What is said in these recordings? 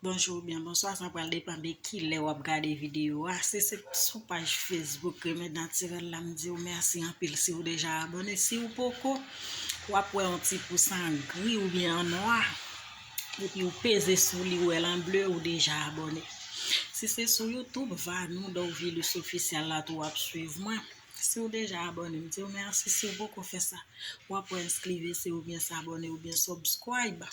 Bonjou ou byen bonswa sa pral depan de kilè wap gade videyo a si se sou paj Facebook Remèd Natirèl la m di ou mèsi anpil si ou deja abone si ou poko wap wè yon ti pous an gri ou byen an nwa epi ou peze sou li ou wè l an ble ou deja abone si se sou Youtube Vanou Dorvilus Officiel la tou wap swiv mwen. Siw deja abone m diw merci siw poko fè sa wap wè ensclive se oubyen s'abonner oubyen subscribe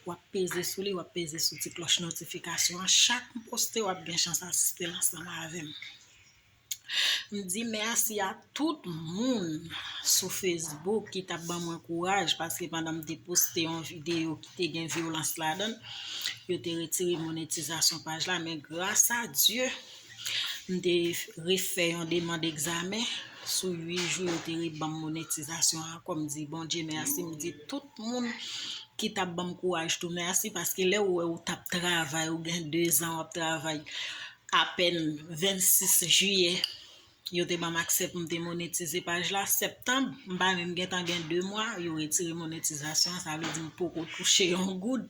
wap peze sou li wap peze sou ti cloche notification an chak m poste wap gen chans asiste l ansanm avèm m di merci a tout moun sou Facebook ki tap ban mwen kouraj paske pandan m te poste yon video ki te gen violans ladan yo te retire monetizasyon paj la men grasa Dieu M te refè yon demand egzamen sou 8 jou yo te rebanm monetizasyon an kòm di Bondye mèsi m di tout moun ki tap banm kouraj tou mèsi paske lè ou wè ou tap travay ou gen 2 zan wap travay apèn 26 jiyè Yo te banm aksè pou m te monetize paj la septanb, m pa menm gentan gen 2 mwa yo retire monetizasyon an sa vle di m poko touche yon goud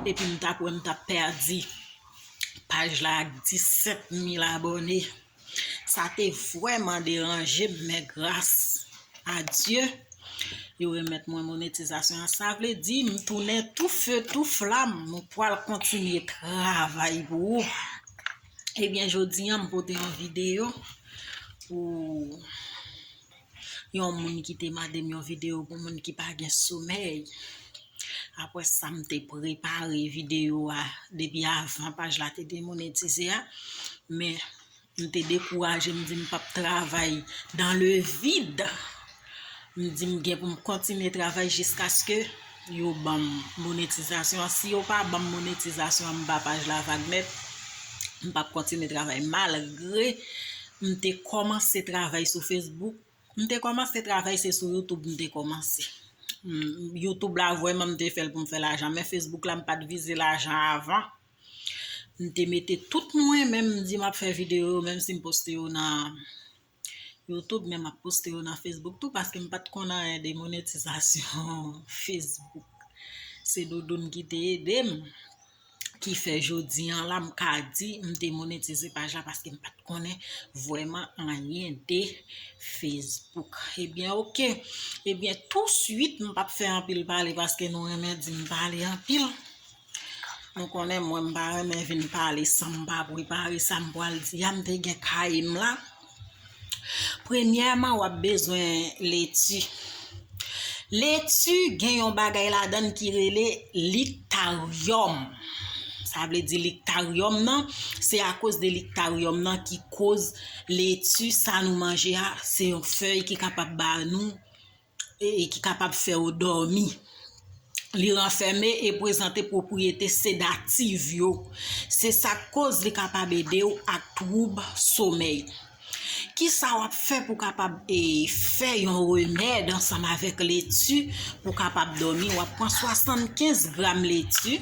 epi m tap wè m tap pèdi paj la ak 17 mil abòne sa te vrèman deranje m men gras a Dye yo remèt mwen monetizasyon an sa vle di m tounen tou feu tou flam m pwal kontinye travay pou ou. Ebyen eh jodi an m pote yon videyo pou yon moun ki te mande m yon videyo pou moun ki pa gen somèy. Apre sa m te prepare videyo a depi avan paj la te demonetize a. Men m te dekouraje m di m pap travay dan le vid. M di m gen pou m kontinye travay jiskaske. Yo banm monetizasyon an si yo pa banm monetizasyon an m ba paj la vag nèt m pap kontinye travay malgre m te kòmanse travay sou Facebook m te kòmanse travay se sou YouTube m te kòmanse YouTube la vwèman m te fèl pou m fè lajan men Facebook la m pat vize lajan avan m te mete tout mwen menm m di m ap fè videyo menm si m poste yo nan Youtube men map poste yo nan Facebook tou paske m pat konn anyen de monetizasyon Facebook. Se doudoun ki te ede m ki fè jodi an la m ka di m te monetize paj la paske m pat konnen vweman anyen de Facebook. Ebyen eh ok, ebyen eh tou suit m pap fè anpil pale paske nou renmen di m pale anpil. Nou konnen mwen m pa renmen vin pale san m pa prepare sa m pral di a, m te gen kaye m la. Premyèman w ap bezwen leti. Leti gen yon bagay ladan ki rele liktaryòm. Sa vle di liktaryòm nan, se akoz de liktaryòm nan ki koz leti sa nou manje a, se yon fèy ki kapab ba nou. e ki kapab fè ou dòmi. Li ranfème e prezante pwopriyete sedativ yo. Se sa k koz li kapab ede ou ak twoub somèy. Ki sa w ap fè pou w kapab e fè yon remèd ansanm avèk leti pou w kapab dòmi? W ap pran 75 gram leti.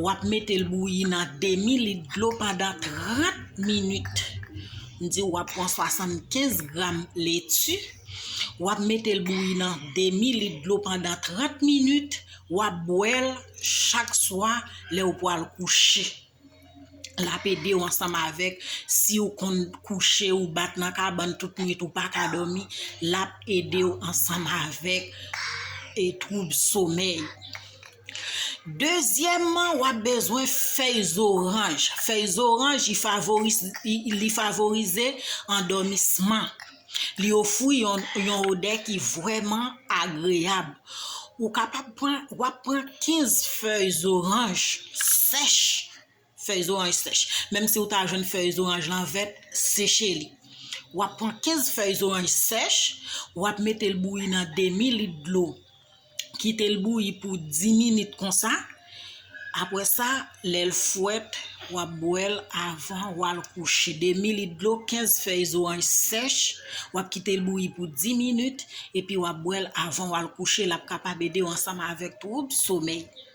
Wap metel bouyi nan demi lit dlo pandan 30 minit m diw wap pran 75 gram leti wap metel bouyi nan demi lit dlo pandan 30 minit wap bwèl chak swa lèw pwal kouche lap edew ansanm avèk siw konn kouche ou bat nan kabann tout nwit ou paka domi lap edew ansanm avèk e twoub somèy. Dezyèman wap bezwen fèy zoranj, fèy zoranj li favorize andomisman, li ofri yon odè ki vrèman agreyab, wap pran 15 fèy zoranj sèch. fèy zoranj sèch. Menm si ou ta jwenn fèy zoranj lan vèt, seche li. W ap pran 15 fèy zoranj sèch, w ap mete l bouyi nan demi lit dlo. Kite l bouyi pou 10 minit konsa. Apre sa, lè l fwèt, w ap bwè l avan w al kouche. Demi lit dlo, 15 fèy zoranj sèch, w ap kite l bouyi pou 10 minit, epi w ap bwè l avan w al kouche. L ap kapab ede w ansanm avèk twoub somèy.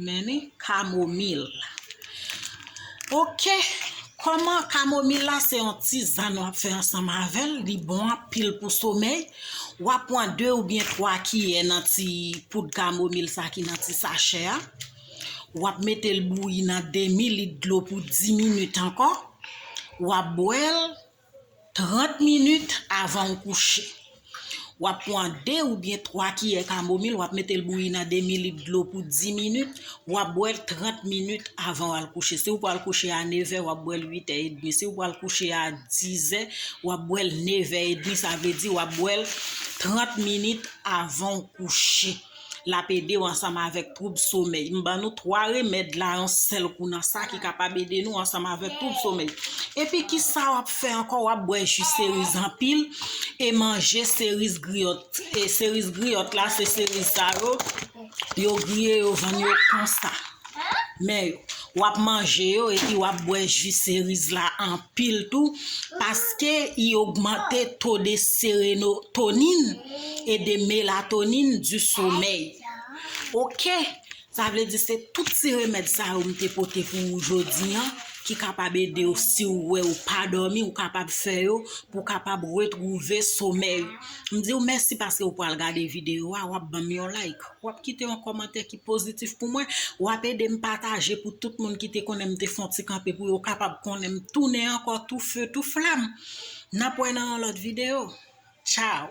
Meni kamomil. Ok, koman kamomil la se yon tizann wap fè ansanm avèl, li bon anpil pou somèy. Wap pran 2 oubyen 3 kiyè nan ti poud kamomil sa ki nan ti sachè a. Wap metel bouyi nan demi lit dlo pou 10 minit ankò. Wap bwèl. 30 minit avan ou kouche. W ap pran 2 oubyen 3 kiyè kamomil, w ap mete l bouyi nan demi lit dlo pou 10 minit, w ap bwè l 30 minit avan w al kouche. Si ou pral kouche a nevè, w ap bwè l uitè edmi. Si ou pral kouche a dizè, w ap bwè l nevè edmi. Sa vle di w ap bwè l 30 minit avan ou kouche. L ap ede w ansanm avèk twoub somèy. M ban nou 3 remèd la yon sèl kou nan sa ki kapab ede nou ansanm avèk twoub somèy. Epi ki sa w ap fè ankò w ap bwè ji seriz anpil e manje seriz griyòt. E seriz griyòt la se seriz sa yo, yo griye yo vann yo konsa. Men yo. W ap manje yo epi w ap bwè ji seriz la anpil. pil tou paske i ogmante to de serenotonin e de melatonin di somèy ok sa vle di se tout ti remèd sa yo m te pote pou ou jodi an ki kapab ede ou si ou wè ou pa dòmi ou kapab fè yo pou kapab retwouve somèy m di ou mèsi paske ou pral gade videyo a wap banm yon like. Wap kite yon kòmantè ki pozitif pou mwen, wap edem pataje pou tout moun ki te konnenm te fon ti kanpe pou yo kapab konnenm tounen ankò tou feu tou flam. Nap wè nan yon lòt video. Ciao.